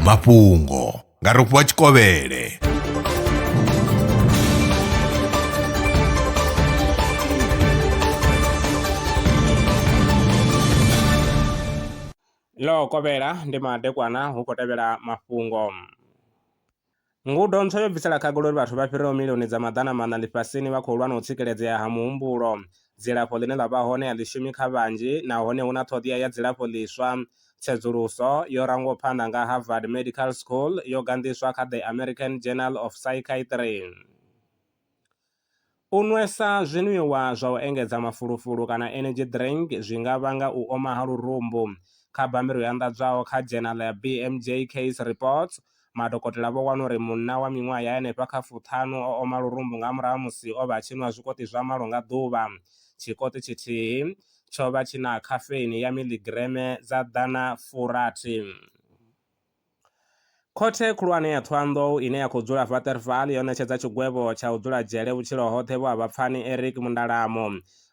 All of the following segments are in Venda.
mafhungo nga rofhiwa tshikovhele ḽo kovhela ndi madekwana hu khou tevhela mafhungo Ngudo ntswa yo bvisela khagala uri vhathu vha fhiraho milioni dza maḓana maṋa ḽifhasini vha khou lwa na u tsikeledzea ha muhumbulo. Dzilafho ḽine ḽa vha hone a ḽi shumi kha vhanzhi nahone hu na ṱhoḓea ya dzilafho ḽiswa. Tsedzuluso yo rangwaho phanḓa nga Harvard Medical School yo ganḓiswa kha The American Journal of Psychiatry. U nwesa zwinwiwa zwa u engedza mafulufulu kana energy drink zwi nga vhanga u oma ha lurumbu. Kha bammbiri yo anḓadzwaho kha dzhenala ya BMJ Case Reports, madokotela vho wana uri munna wa miṅwaha ya henefha kha fuṱhanu o oma lurumbu nga murahu ha musi o vha a tshi nwa zwikoṱi zwa malo nga ḓuvha. Tshikoṱi tshithihi tsho vha tshi na khafeini ya miḽigireme dza ḓana furathi. Khothe Khulwane ya Thohoyandou ine ya khou dzula Waterval yo ṋetshedza tshigwevho tsha u dzula dzhele vhutshilo hoṱhe vho a vha pfani Eric Mundalamo,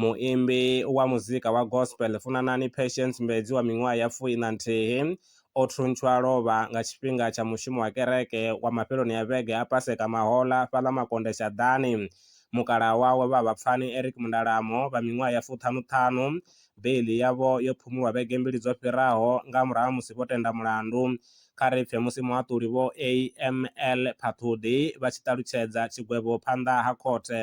muimbi wa muzika wa gospel Funanani Patience Mbedzi wa miṅwaha ya fui na nthihi o thuntshwa a lovha nga tshifhinga tsha mushumo wa kereke wa mafheloni a vhege a Paseka Mahola fhaḽa Makonde Shaḓani. Mukalaha wawe vha a vha pfani Eric Mundalamo vha miṅwaha ya fuṱhanu-ṱhanu Beiḽi yavho yo phumulwa vhege mbili dzo fhiraho nga murahu ha musi vho tenda mulandu. Kha ri pfe musi muhaṱuli Vho AML Phaṱhuḓi vha tshi ṱalutshedza tshigwevho phanḓa ha khothe.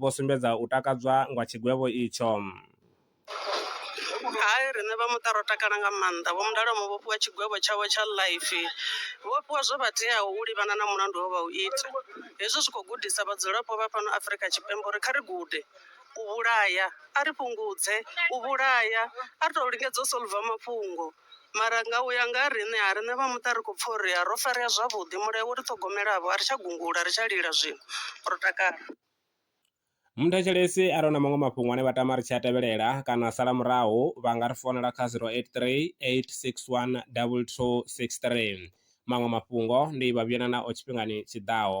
vho sumbedza u takadzwa nga tshigwevho itsho. Hai, riṋe vha muṱa ro takala nga maanḓa. Vho Mdalwa vho fhiwa tshigwevho tshavho tsha ḽaifi. Vho fhiwa zwo vha teaho u livhana na mulandu we vha u ita. Hezwi zwi khou gudisa vhadzulapo vha fhano Afrika Tshipembe uri kha ri gude u vhulaya, a ri fhungudze u vhulaya, a ri tou lingedza u solver mafhungo. Mara nga u ya nga ha riṋe, ha riṋe vha muṱa ri khou pfa uri ro farea zwavhuḓi. Mulayo wo ri ṱhogomelavho, a ri tsha gungula, a ri tsha lila zwino. Ro takala. Muthetshelesi a re na maṅwe mafhungo ane vha tama ri tshi a tevhelela kana a sala murahu vha nga ri founela kha 0838612263. Maṅwe mafhungo ndi vha vhuyelela nao tshifhingani tshi ḓaho.